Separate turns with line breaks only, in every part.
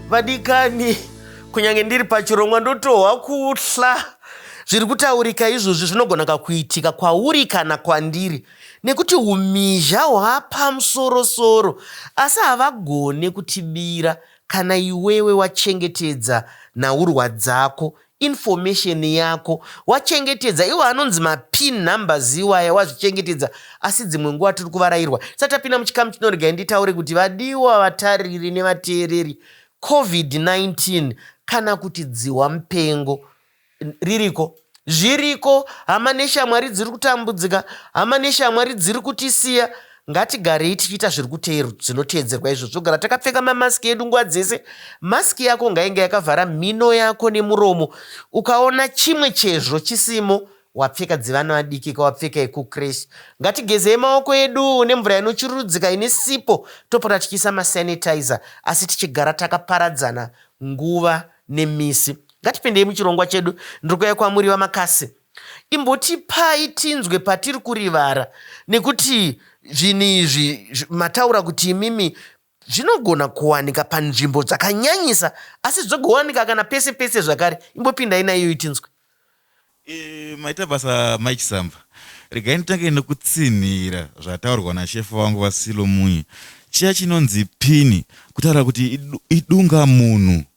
vadikani kunyange ndiri pachirongwa ndotohwa kuhla zviri kutaurika izvozvi zvinogona kakuitika kwauri kana kwandiri nekuti umhizha hwapamusorosoro asi havagone kutibira kana iwewe wachengetedza nhaurwa dzako information yako wachengetedza iwo anonzi mapin numbers iwaya wazvichengetedza asi dzimwe nguva tiri kuvarairwa sa tapinda muchikamu chinoregai nditaure kuti vadiwa vatariri nevateereri covid-19 kana kuti dzihwa mupengo ririko zviriko hama neshamwari dziri kutambudzika hama neshamwari dziri kutisiya Ngatigarei tichiita zviri kuteero zvinoteedzerwa izvo zvogara takapfeka mamasiki edu nguva dzese. Masiki yako ngainge yakavhara mhino yako nemuromo. Ukaona chimwe chezvo chisimo, wapfeka dzevana vadiki ka wapfeka yekucresh. Ngatigezei maoko edu nemvura inochururudzika ine sipo topota tichiisa masanitizer asi tichigara takaparadzana nguva nemisi. Ngatipindei muchirongwa chedu. Ndiri kuuya kwamuri VaMakasi. Imbotipai tinzwe patiri kurivara nekuti zvinhu izvi mataura kuti imimi zvinogona kuwanika panzvimbo dzakanyanyisa asi zvogowanika kana pese pese zvakare. Imbopindai naiyoyi tinzwe. Eh,
maita basa Mai Chisamba. Regai nditange nekutsinhira zvataurwa nashefu vangu VaSilo Munye. Chiya chinonzi pin kutaura kuti idunga munhu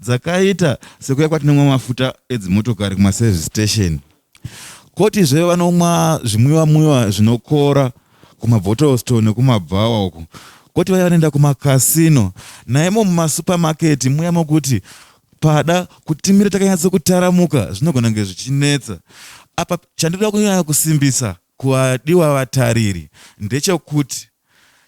dzakaita sekuya kwatinomwa mafuta edzimotokari kumaservice station kotizve vanomwa zvimwiwa mwiwa zvinokora kumabhottlestore nekumabhawa uku koti vaya vanoenda kumakasino naimo mumasupamaketi muya mokuti pada kutimira takanyatso kutaramuka zvinogona kunge zvichinetsa apa chandinoda kunyanya kusimbisa kuvadiwa vatariri ndechekuti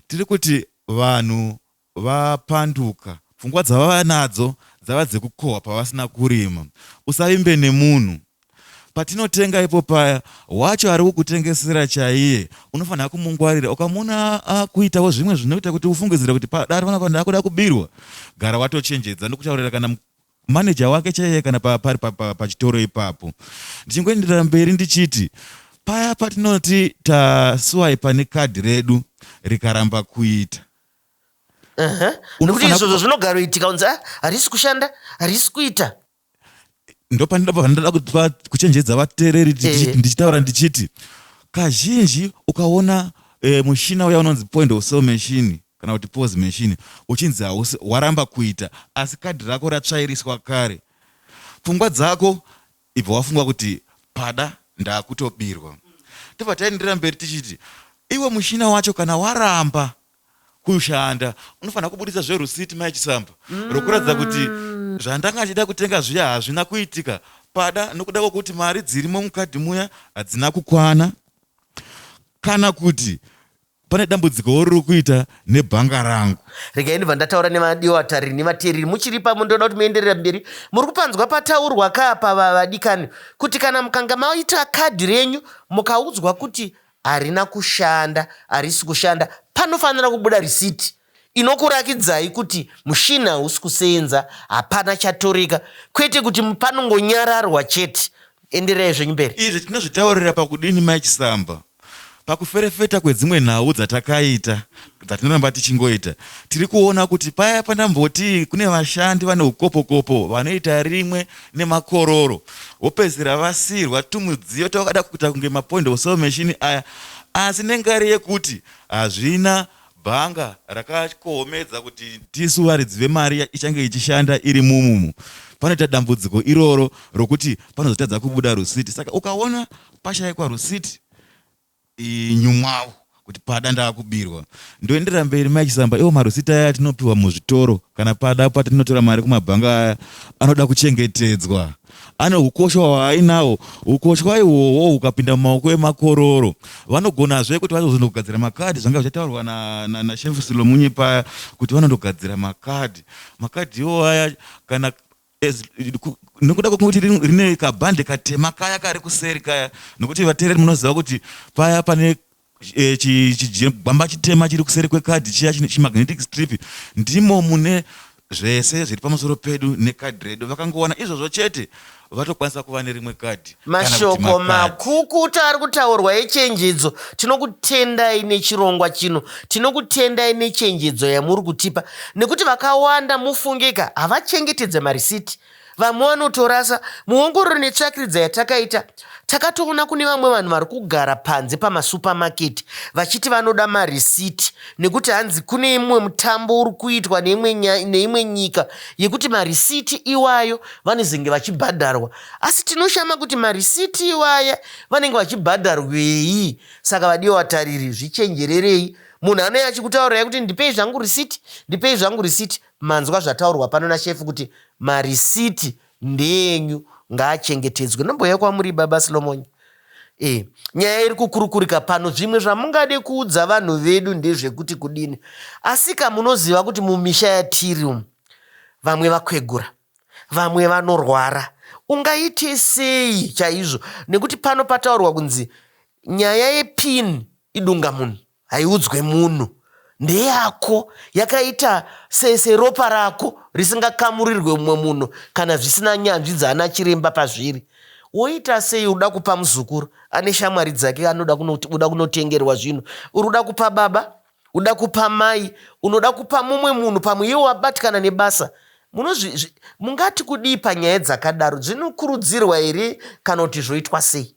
tiri kuti vanhu Vapanduka. Pfungwa dzavava nadzo dzava dzekukohwa pavasina kurima. Usavimbe nemunhu. Patinotenga ipo paya, wacho ari kukutengesera chaiye unofanira kumungwarira. Ukamuona akuitawo zvimwe zvinoita kuti ufungidzire kuti padaro anofanira kuda kubirwa, gara watochenjedza ndokutaurira kana maneja wake chaiye kana pari pachitoro ipapo. Ndichingoenderera mberi ndichiti, Paya patinoti taswaipa nekadhi redu rikaramba kuita. Aha. Nekuti
Unofanira izvozvo kupa- zvinogaroitika unzi "Ah, harisi kushanda harisi kuita ndopanoda
pavanoda kuti va- kuchenjedza vateereri ndichi- Eh. ndichitaura ndichiti kazhinji ukaona eh, mushina uya unonzi point of sale machine kana kuti pos machine uchinzi hausi waramba kuita asi kadhi rako ratsvairiswa kare pfungwa dzako Ibva wafunga kuti pada ndakutobirwa. Tobva taenderera mberi tichiti iwe mushina wacho kana waramba kushanda unofanira kubuditsa zverusiti mai Chisamba mm. rokuratidza kuti zvandanga achida kutenga zviya hazvina kuitika pada nokuda kwokuti mari dzirimo mukadhi muya hadzina kukwana kana kuti Pane dambudziko riri kuita nebhanga rangu. Regai ndibva ndataura
nemadiwa vatariri nevateereri muchiri pamwe ndoda kuti muenderera mberi. Muri kupanzwa pataurwa kaa pava vadikani kuti kana mukanga maita kadhi renyu mukaudzwa kuti harina kushanda, harisi kushanda panofanira kubuda risiti Inokurakidzai kuti mushini hausi kuseenza hapana chatoreka kwete kuti panongonyararwa chete enderai zvenyu mberi. Izvi tinozvitaurira
pakudini mai Chisamba? Pakuferefeta kwedzimwe nhau dzatakaita dzatinoramba tichingoita tiri kuona kuti paya pandamboti kune vashandi vane ukopokopo vanoita rimwe nemakororo vopedzisira vasiirwa tumudziyo twavakada kuita kunge mapoint of sale machine aya asi nengari yekuti hazvina bhanga rakakohomedza kuti tisu varidzi vemari ichange ichishanda iri mumumu panoita dambudziko iroro rokuti panozotadza kubuda rusiti saka ukaona pashaikwa rusiti nyumwawo kuti pada ndakubirwa ndoenderera mberi mai chisamba iwo marusiti aya atinopiwa muzvitoro kana pada patinotora mari kumabhanga aya anoda kuchengetedzwa Ane hukosha hwaainahwo. Hukoshwa ihwohwo hukapinda mumaoko emakororo, vanogonazve kuti vazozondogadzira makadhi zvanga zvichataurwa naSheriff Silomunye paya kuti vanondogadzira makadhi. Makadhi iwo aya kana nokuda kwekuti rine kabhande katema kaya kari kuseri kaya, nokuti vateereri munoziva kuti paya pane eh, chigwamba chitema chiri kuseri kwekadhi chiya chimagnetic strip ndimo mune zvese zviri pamusoro pedu nekadhi redu vakangowana izvozvo chete vatokwanisa kuva nerimwe kadhi mashoko
makukuta ari kutaurwa echenjedzo tinokutendai nechirongwa chino tinokutendai nechenjedzo yamuri kutipa nekuti vakawanda mufungeka havachengetedze marisiti Vamwe vanotorasa. Muongororo netsvakiridza yatakaita, takatoona kune vamwe vanhu vari kugara panze pamasupamaketi vachiti vanoda marisiti nekuti hanzi kune imwe mutambo uri kuitwa neimwe nyika yekuti marisiti iwayo vanozenge vachibhadharwa. Asi tinoshama kuti marisiti iwaya vanenge vachibhadharwei? Saka vadiwa vatariri, zvichenjererei. Munhu anouya achikutaurai kuti ndipei zvangu risiti, ndipei zvangu risiti. Manzwa zvataurwa pano nashefu kuti marisiti ndeenyu ngaachengetedzwe. Nombouya kwamuri baba Slomonya. Eh, nyaya iri kukurukurika pano zvimwe zvamungade kuudza vanhu vedu ndezvekuti kudini. Asika munoziva kuti mumisha yatiri umu vamwe vakwegura, vamwe vanorwara. Ungaite sei chaizvo nekuti pano pataurwa kunzi nyaya yepin idunga munhu. Haiudzwe munhu. Ndeyako. Yakaita se, seropa rako risingakamurirwe mumwe munhu kana zvisina nyanzvi dzaana chiremba pazviri. Woita sei uda kupa muzukuru ane shamwari dzake anoda kuno, uda kunotengerwa zvinhu. Uri uda kupa baba, uda kupa mai, unoda kupa mumwe munhu pamwe iye wabatikana nebasa. Munozvi, zvi, mungati kudii panyaya dzakadaro? Dzinokurudzirwa here kana kuti zvoitwa sei?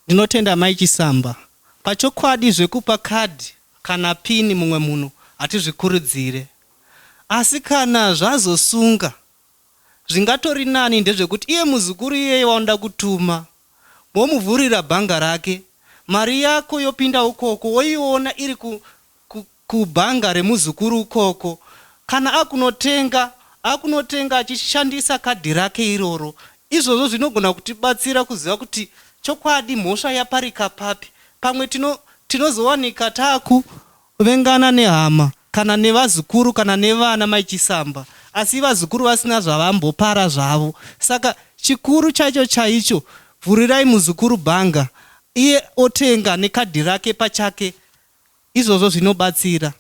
Ndinotenda amai Chisamba. Pachokwadi zvekupa card kana pin mumwe munhu hatizvikurudzire. Asi kana zvazosunga zvingatori nani ndezvekuti iye muzukuru iyeye waunoda kutuma womuvhurira bhanga rake mari yako yopinda ukoko woiona iri Kubhanga remuzukuru ukoko. Kana akunotenga, akunotenga achishandisa kadhi rake iroro. Izvozvo zvinogona kutibatsira kuziva kuti chokwadi mhosva yaparika papi. Pamwe tino, tinozowanika takuvengana nehama, kana nevazukuru, kana nevana mai Chisamba, asi vazukuru vasina zvavambopara zvavo. Saka chikuru chaicho chaicho, vhurirai muzukuru bhanga, iye otenga nekadhi rake pachake Izvozvo zvinobatsira.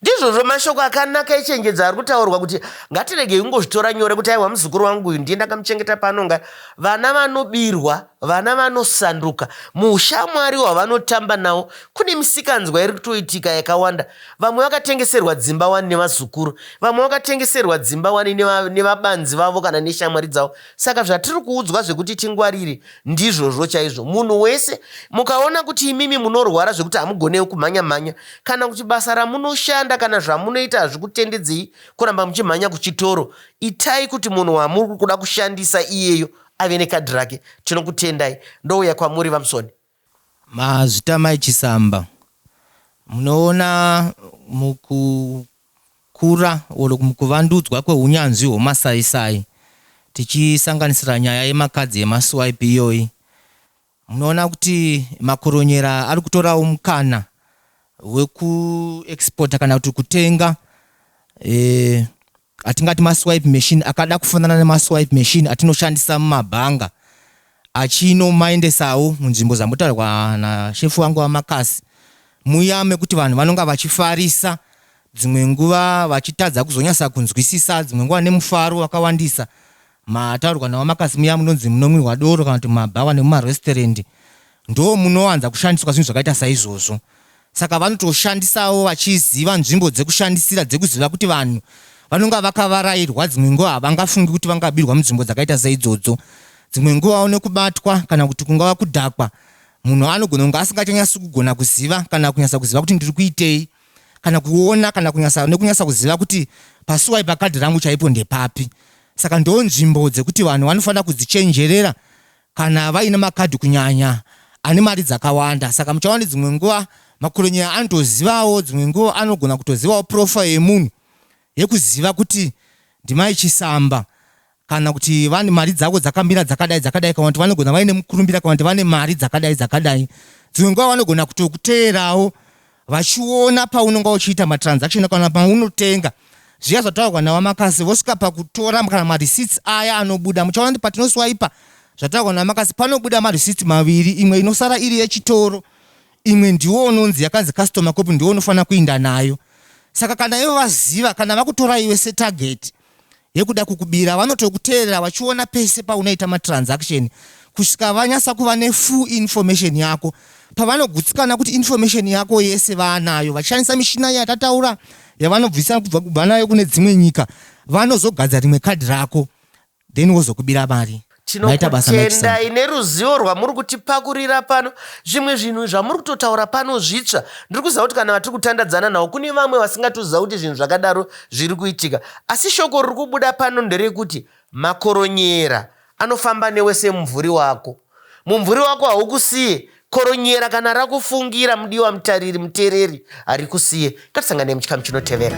Ndizvozvo
mashoko akanaka echenjedzo ari kutaurwa kuti ngatiregei kungozvitora nyore kuti aiwa muzukuru wangu uyu ndiye ndakamuchengeta paanonga. Vana vanobirwa, vana vanosanduka. Muushamwari hwavanotamba nawo kune misikanzwa iri kutoitika yakawanda. Vamwe vakatengeserwa dzimba wani nevazukuru, vamwe vakatengeserwa dzimba wani nevabanzi vavo kana neshamwari dzavo. Saka zvatiri kuudzwa zvekuti tingwarire, Ndizvozvo chaizvo. Munhu wese, mukaona kuti imimi munorwara zvekuti hamugonewo kumhanya-mhanya, kana kuti basa ramunoshanda kana zvamunoita hazvikutendedzei kuramba muchimhanya kuchitoro, itai kuti munhu wamuri kuda kushandisa iyeyo ave nekadhi rake. Tinokutendai. Ndouya kwamuri, VaMusoni. Mazvita
Mai Chisamba, munoona muku kukura or kuvandudzwa kwehunyanzvi hwemasaisai tichisanganisira nyaya yemakadzi yemaSwipe iyoyi munoona kuti makoronyera ari kutorawo mukana wekuexporta kana kuti kutenga eh, atingati maswipe machine akada kufanana nemaswipe machine atinoshandisa mumabhanga achinomaendesawo munzvimbo dzambotaurwa nashefu wangu vaMakasi muya mekuti vanhu vanonga vachifarisa dzimwe nguva vachitadza kuzonyasa kunzwisisa dzimwe nguva nemufaro wakawandisa mataurwa navamakasi muya munonzi munomwirwa doro kana kuti mabhawa nemumaresturendi ndo munowanza kushandiswa zvinhu zvakaita saizvozvo Saka vanotoshandisawo vachiziva nzvimbo dzekushandisira dzekuziva kuti vanhu vanonga vakavarairwa dzimwe nguva havangafungi kuti vangabirwa munzvimbo dzakaita seidzodzo. Dzimwe nguvawo nekubatwa kana kuti kungava kudhakwa, munhu anogona kunge asingachanyasi kugona kuziva kana kunyasa kuziva kuti ndiri kuitei kana kuona kana kunyasa nekunyasa kuziva kuti pasuwai pakadhi rangu chaipo ndepapi. Saka ndoo nzvimbo dzekuti vanhu vanofanira kudzichenjerera kana vaine makadhi kunyanya ane mari dzakawanda saka muchaona dzimwe nguva makuronyeya anotozivawo dzimwe nguva anogona kutozivawo profile yemunhu yekuziva kuti ndimai chisamba kana kuti vane mari dzavo dzakamira dzakadai dzakadai kana kuti vanogona vaine mukurumbira kana kuti vane mari dzakadai dzakadai dzimwe nguva vanogona kutokuteerawo vachiona paunonga uchiita matransaction kana paunotenga zviya zvataurwa nawamakasi vosvika pakutora kana mareceipts aya anobuda muchaona kuti patinoswaipa zvataurwa nawamakasi panobuda mareceipts maviri imwe inosara iri yechitoro imwe ndiwo unonzi yakanzi customer cop ndiwo unofanira kuinda nayo saka kana ivo vaziva kana vakutora iwe setarget yekuda kukubira vanotokuteerera vachiona pese paunoita matransaction kusvika vanyasa kuva nefull information yako pavanogutsikana kuti information yako yese vaanayo vachishandisa mishina yatataura yavanobvisa kubva kubva nayo kune dzimwe nyika vanozogadza rimwe kadhi rako then wozokubira mari Maita basa mai Chisango. Tinokutendai
neruzivo rwamuri kutipakurira pano. Zvimwe zvinhu zvamuri kutotaura pano zvitsva. Ndiri kuziva kuti kana vatiri kutandadzana navo kune vamwe vasingatoziva kuti zvinhu zvakadaro zviri kuitika. Asi shoko riri kubuda pano nderekuti makoronyera anofamba newe semumvuri wako. Mumvuri wako haukusiye Koronyera kana rakufungira mudiwa mutariri mutereri harikusiye ngatisangane muchikamu chinotevera.